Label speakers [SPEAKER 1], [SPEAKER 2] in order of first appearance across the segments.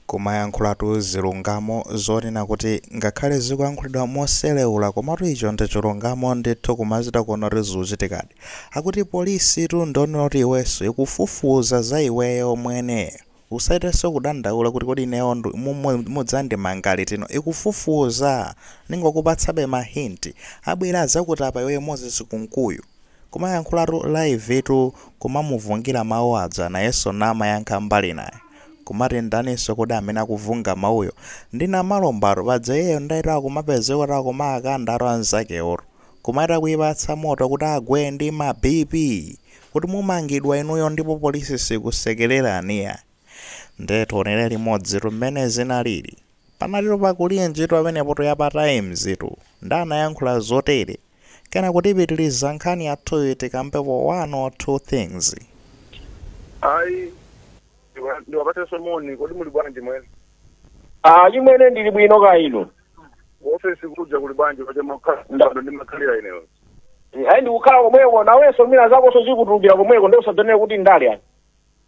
[SPEAKER 1] Kumayankhulatu zilungamo zonena kuti ngakhale zikuyankhulidwa moselewula komatu ichocho ndi chilungamo ndithu kumachita kuona kuti zikuchitikadi. Akuti police tu ndiwoti iwenso ikufufuza za iweyo mwene. Usachitenso kudandaula kuti kodi ineyo ndu mu mu mudzandimanga liti no ikufufuza! Ndingokupatsabe ma hint. Abwere adzakutape iweyo Moses Kunkuyu. Kumayankhulatu live tu kumamuuza aja nayenso namayankha mbali inayi. Kumati ndaninso kodi amene akuvunga mawuyo? Ndi Namalombatu, paja iyeyo ndetu akumapezekatu akumakandatu anzakewotu. Kumati akuyipatsa moto kuti agwe ndi ma BP! Kuti mumangidwa inuyo ndipo polisi sikusekelelani iyayi. Ndiye tionele limodzitu mmene zinalili. Panalitu pakulinjitu pamenepotu ya pa times tu. Nde anayankhula zotele. kenako tipitiliza nkhani yathuyi tikambepo one or two things ayi ndiwa- ndiwapatsenso moni kodi muli bwanji mwene Ah, chimwene ndili bwino kaya inu ofesi kuja kuli bwanji paja mumakhala ndani ndimakhalira ineyo ayi ndikukhala komweko nawenso mwina zakonso zikutulukira komweko nde usadzanene kuti ndale ayi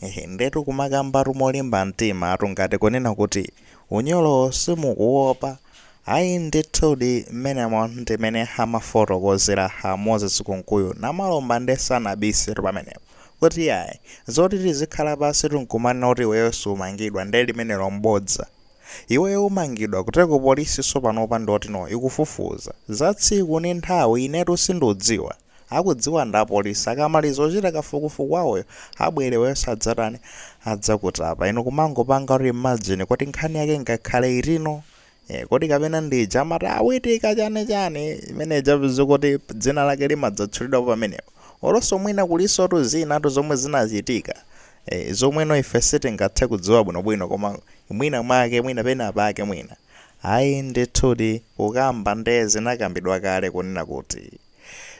[SPEAKER 1] Hehe ndetu kumakambatu molimba mtima tu ngati kunena kuti unyolowo simukuuopa ayi ndithudi mmenemo ndi mmene amafotokozera a Moses Kunkuyu Namalomba nde sanabise tu pamenepo kuti yayi zoti tizikhala pansi tu nkumanena kuti iweyo sumangidwa nde limenelo n'bodza iweyo umangidwa kuteko polisinso panopa ndiyotino ikufufuza za tsiku ndi nthawi inetu sindudziwa akudziwa ndi apolisi akamaliza kuchita kafukufuku wawoyo abwere iwenso adzatani adzakutapa inu kumangopanga kuti imagine kuti nkhani yake ngakhale itino Eh, kodi kapena ndija amati ayi chani chani imene ija kuti dzina lake limadzatchulidwapo pamenepo olonso mwina kulinsotu zinatu zomwe zinachitika eh, zomweno ife sitingathe kudziwa bwinobwino koma mwina mwake mwina pena pake mwina ayi ndithudi kukamba nde zinakambidwa kale kunena kuti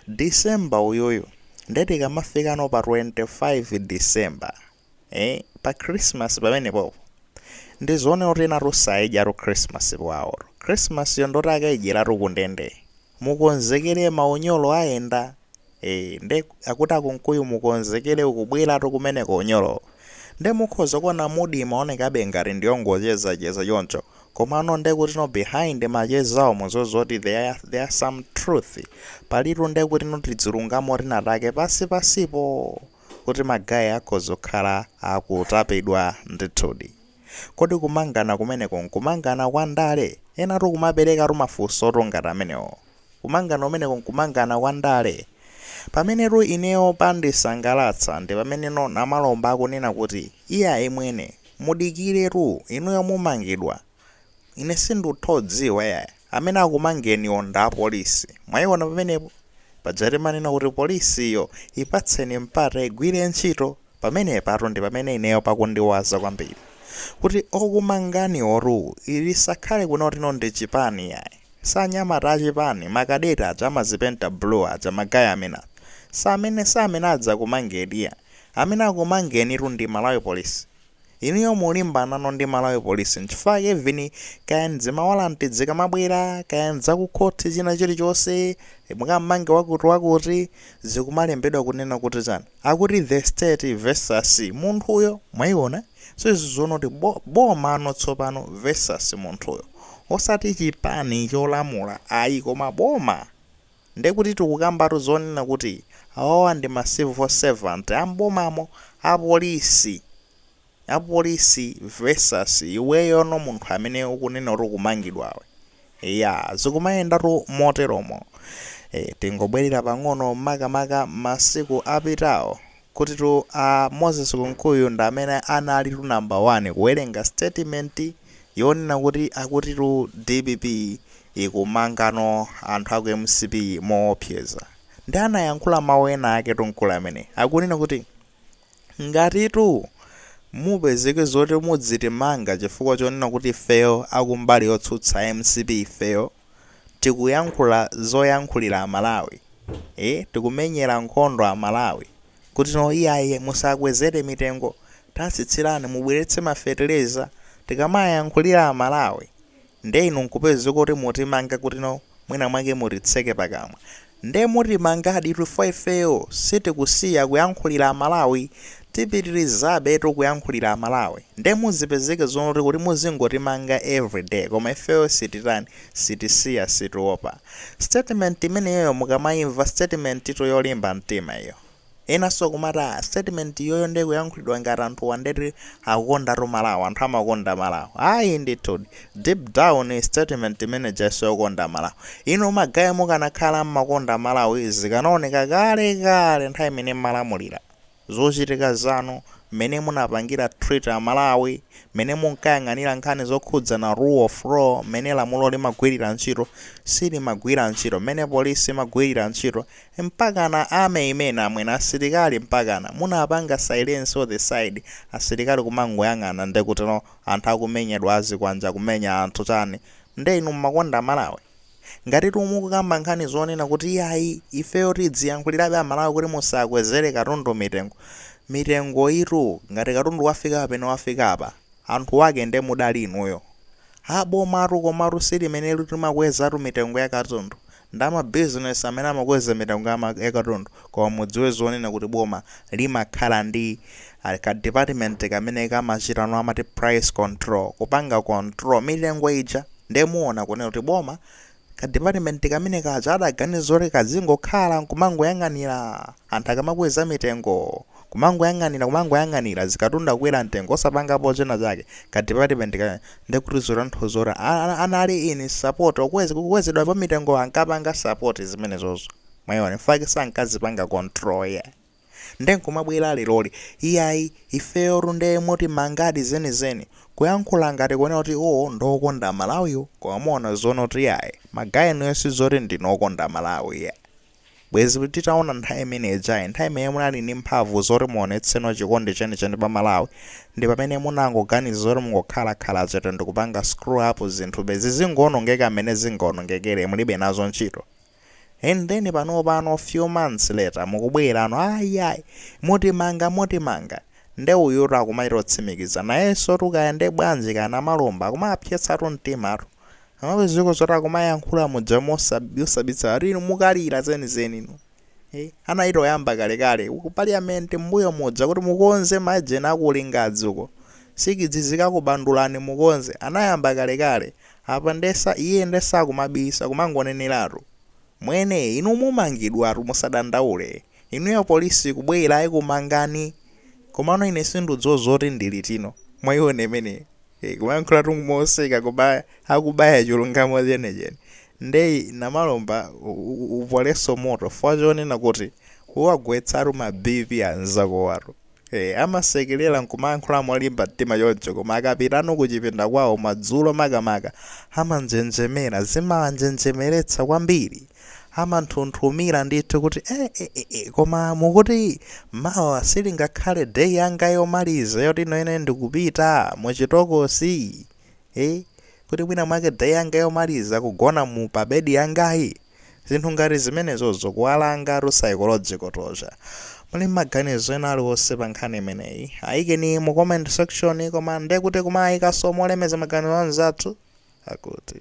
[SPEAKER 1] December uyuyu nde tikamafikano pa 25 December ee pa Christmas pamenepopo ndi zoonatu enatu sakaidyatu Christmas kwaotu. Christmas yo ndoti akaidyeratu kundende. Mukonzekere maunyolo ayenda ee nde akuti a Kunkuyu mukonzekere kukubweratu kumeneko unyolowo. Nde mukhoza kuona mood imaonekabe ngati ndi yongochezacheza choncho Komano ndekutino behind machezawo zozoti there is some truth palitu ndekutino tizilungamo tinatake pansi pansipo kuti ma guy akhoza kukhala akutapidwa ndithudi. Kodi kumangana kumeneko nkumangana kwa ndale? Enatu kumaperekatu mafunsotu ngati amenewo. Kumangana kumeneko nkumangana kwa ndale? Pamenetu ineyo pandisangalatsa ndi pameneno Namalomba akunena kuti, Iyayi imwe, mudikiretu, inuyo mumangidwa. Ine sinditha kudziwa iyayi. Amene akumangeni wo ndi apolisi. Mwaiona pamenepo? Paja timanena kuti polisiyo ipatseni mpata igwire ntchito. Pamenepatu ndi pamene ineyo pakundiwaza kwambiri kuti okumanganiwotu isakhale kunena kuti no ndi chipani iyayi. Si anyamata achipani, ma cadet aja amazipenta blue aja, ma guy amene aja. Si amene, si amene adzakumangeni iyayi. Amene akumangenitu ndi Malawi Police. Inuyo mulimbanano ndi Malawi police nchifukwa chake even kaya ndi zimawalanti zikamabwera kaya ndi zakukhothi china chilichonse mukammanga wakuti wakuti zikumalembedwa kunena kuti chani akuti the state versus munthuyo mwaiona so izi zikuonetsa kuti bo, bomano tsopano versus munthuyo osati chipani cholamula ayi koma boma Ndekuti tikukambatu zonena kuti awawa ndi ma civil servant a m'bomamo, a police, a police versus iweyono munthu amene ukunena kuti ukumangidwawe. Eya, zikumayendatu moteromo. Tingobwerera pang'ono makamaka masiku apitawo. Kutitu a Moses Kunkuyu ndi amene analitu number 1 kuwerenga statement yonena kuti akutitu dpp ikumangano anthu aku mcp moopseza. Nde anayankhula mau ena aketu mkulu ameneyi. Akunena kuti ngatitu mupezeke zoti muzitimanga chifukwa chonena kuti ifeyo akumbali yotsutsa mcp ifeyo. tikuyankhula zoyankhulira amalawi ee tikumenyera nkhondo amalawi kuti no iyayi musakwezere mitengo tatsitsirani mubweretse ma feteleza tikamayankhulira amalawi nde inu nkupezeka kuti mutimanga kuti no mwina mwake mutitseke pakamwa Nde mutimangaditu chifukwa ifeyo sitikusiya kuyankhulira amalawi tipitilizabetu kuyankhulira amalawi nde muzipezeke zonena kuti muzingotimanga every day koma ifeyo sititani sitisiya sitiopa statement imeneyoyo mukamaimva statement tu yolimba mtima iyo. Enanso akumati a statement iyoyo nde ikuyankhulidwa ngati anthuwa nde okondatu Malawi, anthu amakonda Malawi. Ayi ndithudi. Deep down statement imene ija siyokonda Malawi. Inu ma guy mukanakhala kuti mmakonda Malawi zikanaoneka kale kale nthawi imene mmalamulira. Zochitika zanu, mmene munapangira treat a Malawi, mmene munkayang'anira nkhani zokhudzana rule of law, mmene lamulo limagwirira ntchito, silimagwira ntchito, mmene police imagwirira ntchito, Mpakana army imene amwene asilikali mpakana munapanga silence all this side asilikali kumangoyang'ana ndekutilo anthu akumenyedwa ndi zikwanje akumenya anthu chani nde inu mumakonda malawi? Ngatitu mukukamba nkhani zonena kuti iyayi ifeyo tidziyankhulirabe amalawi kuti musakwezere katundu mitengo mitengoyitu ngati katundu wafika pamene wafika apa anthu wake nde mudali inuyo? A bomatu komatu si limenelitu limakwezatu mitengo yakatundu ndi a ma business amene amakweza mitengo ya ma yakatundu koma mudziwe zonena kuti boma limakhala ndi a ka department kamene kamachita no amati price control kupanga control mitengo ija nde muona kunena kuti boma ka department kamene kaja adaganiza zoti kadzingokhala nkumangoyang'anira Anthu akamakweza mitengo kumangoyang'anira kumangoyang'anira zikatundu kukwera mtengo osapangapo china chake ka department ka ndekuti zotanthauza kuti anali in support okweza kukwezedwa kwa mitengo ankapanga support zimenezozo mwayiona mfake sankazipanga control yeah. nde nkumabwera leroli iyayi ifeyo tunde moti mwangati zenizeni kuyankhula ngati kuonera kuti iwowo ndokonda malawiwo koma muona zonena kuti iyayi magayenuyo sizoti ndinu okonda malawi yeah. Bwezi titaona nthawi imene ijayi, nthawi imene munali ndi mphamvu zoti muonetseno chikondi chenicheni pa Malawi, ndi pamene munangoganiza zoti mungokhala khala chete ndikupanga screw up zinthu bezi zingoonongeka mmene zingaonongekere mulibe nazo ntchito. And then panopano few months later mukubwerano ah iyayi, mutimanga mutimanga. Nde uyutu akumachita kutsimikiza nayensotu kaya nde bwanji kaya Namalomba akumawapsetsatu mtimatu. Amalawi ziko zoti akumayankhula muja mosab- yosabitsa ati inu mukalira zenizeni inu Eh, anachita kuyamba kalekale ku parliament mbuyo muja kuti mukonze majeni akulingadzi uko nsikidzi zikakubandulani mukonze anayamba kalekale apa nde sa iye nde sakumabisa kumangoneneratu mwene inu mumangidwatu musadandaule inuyo polisi kubwera ikumangani komano ine sinduuzo zoti ndi litino mwayiona imeneyo Eeh kumayankhulatu moseka koma akubaya chulungamo chenicheni. Nde Namalomba upole moto chifukwa chonena kuti uwakwezatu ma BP anzakowatu. Eeh amasekelela nkumayankhula molimba mtima choncho koma akapitano kuchipinda kwawo madzulo makamaka amanjenjemera zimawanjenjemeretsa kwambiri. amanthunthumira ndithu kuti e, e, e, e, koma mukuti mawa silingakhale day yanga yomaliza yoti nanene ndikupita muchitokosi e, kuti mwina mwake day yanga yomaliza kugona mu pabedi yangayi zinthu ngati zimenezozo kuwalangatu psychological torture muli maganizo ena aliwonse pa nkhani imeneyi ayikeni mu comment section koma ndekuti kumayikaso molemeza maganizo anzathu akuti